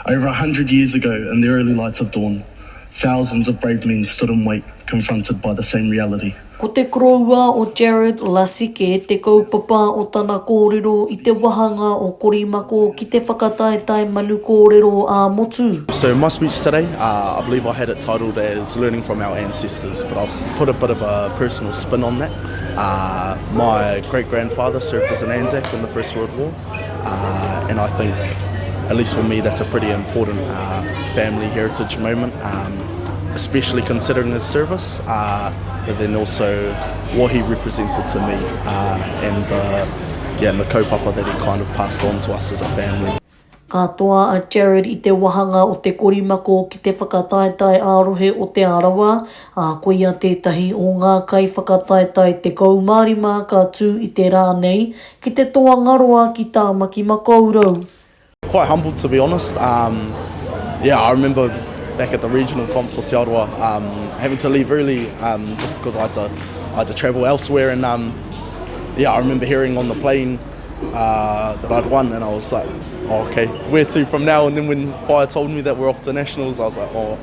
Over a hundred years ago in the early light of dawn, thousands of brave men stood in wait confronted by the same reality. Ko te koroua o Jared Lasike te kaupapa o tana kōrero i te wahanga o Korimako ki te whakataetae manu kōrero ā-motu. So my speech today, I believe I had it titled as learning from our ancestors, but I've put a bit of a personal spin on that. My great grandfather served as an Anzac in the first world war. Uh, and I think, at least for me, that's a pretty important uh, family heritage moment, um, especially considering his service, uh, but then also what he represented to me uh, and, the, yeah, and the kaupapa that he kind of passed on to us as a family. Ka toa a Jared i te wahanga o te korimako ki te whakataetae ā-rohe o Te Arawa, ā, koia tētahi o ngā kaiwhakataetae 15 ka tū i te rā nei, Ki te Toangaroa ki Tamaki Makaurau. Quite humbled to be honest um yeah I remember back at the regional comp for Te Arawa um having to leave early um just because I had to I had to travel elsewhere and um yeah I remember hearing on the plane uh that I'd won and I was like oh okay where to from now and then when Whaea told me that we're off to nationals I was like oh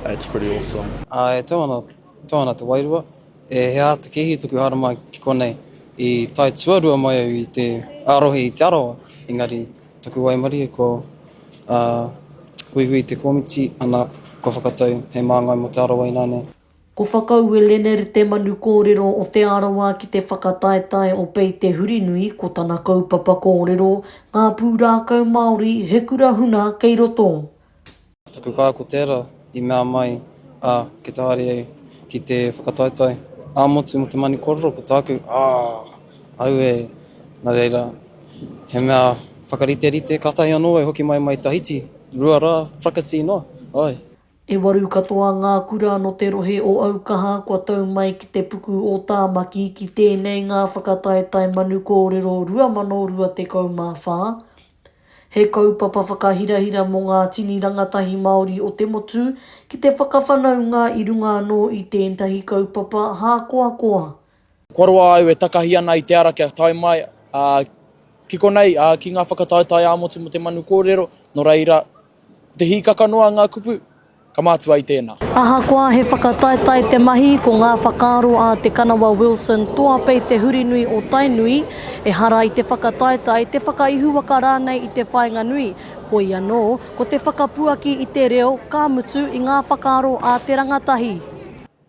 that's pretty awesome. I tau ana Tāna te wairua. E he aha te kēhi tuku hārama ki konei? I tae tuarua mai au i te ārohi i Te Arawa, engari taku waimarie ko a Huihui Te Komiti, ana, kua whakatau hei māngai mō Te Arawa ināne. Ko Whakaue Lener te manu kōrero o Te Arawa ki te whakataetae o Pei Te Hurinui ko tana kaupapa kōrero, Ngā Pūrākau Māori, he kura huna kei roto. Taku kaha ko tera i mea mai a ki te haere au ki te whakataetae a motu mo te mani korero ko taku aah aue na reira he mea whakariterite katahi ano e hoki mai mai Tahiti rua ra prakati noa ae. E waru katoa ngā kura no te rohe o Aukaha kua tau mai ki te puku o Tāmaki ki tēnei ngā whakataetae manu kōrero 2024 He kaupapa whakahirahira mō ngā tini rangatahi Māori o te motu ki te whakawhanaunga i runga anō i tētahi kaupapa hākoakoa. Kua roa au e takahi ana i te ara kia tae mai ki konei, ki ngā whakataetae ā-motu mō te manu kōrero, nō reira, ko te hīkaka noa ngā kupu. ka mātua i tēnā. Ahakoa he whakataetae te mahi, ko ngā whakaaro a Te Kanawa Wilson Toapei Te Hurinui o Tainui, ehara i te whakataetae, te whakaihuwaka rānei i te whāinga nui, hoi anō, ko te whakapuaki i te reo, ka mutu, i ngā whakaaro a te rangatahi.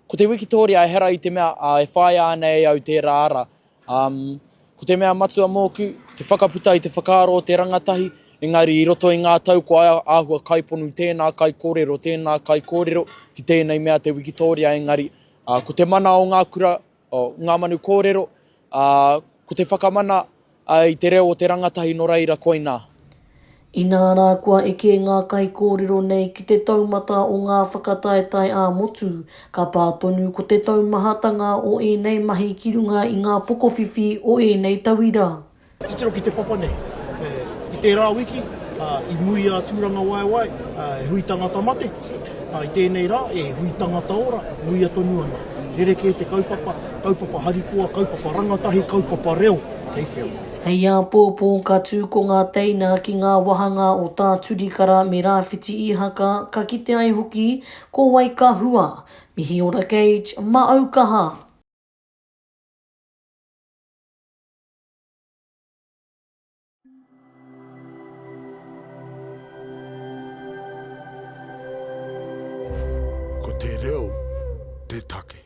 Ko te wikitoria, ehara i te mea e whāia ana e au tērā ara, Um, ko te mea matua mōku, te whakaputa i te whakaaro o te rangatahi, engari i roto i ngā tau ko ai āhua kaiponu tēnā kaikōrero, tēnā kaikōrero ki tēnei mea te wikitōria engari uh, ko te mana o ngā kura, o ngā manu kōrero, uh, ko te whakamana uh, i te reo o te rangatahi no reira koinā. Inā rā kua eke ngā kaikōrero nei ki te taumata o ngā whakataetae ā-motu, ka pā tonu ko te taumahatanga o ēnei mahi ki runga i ngā pokowhiwhi o ēnei tauira. Titiro ki te papa nei, i tērā wiki, i muia a Tūrangawaewae e hui tangata mate, ā, i tēnei rā, e hui tangata ora, muia tonu ana. Rerekē te kaupapa, kaupapa harikoa, kaupapa rangatahi, kaupapa reo, kei whea. Hei āpōpō ka tū ko ngā teina ki ngā wāhanga o Tā Turikara me Rāwhiti Īhaka ka kite ai hoki ko wai ka hua. Mihi ora Gage, mā au kaha! Ko te reo te take.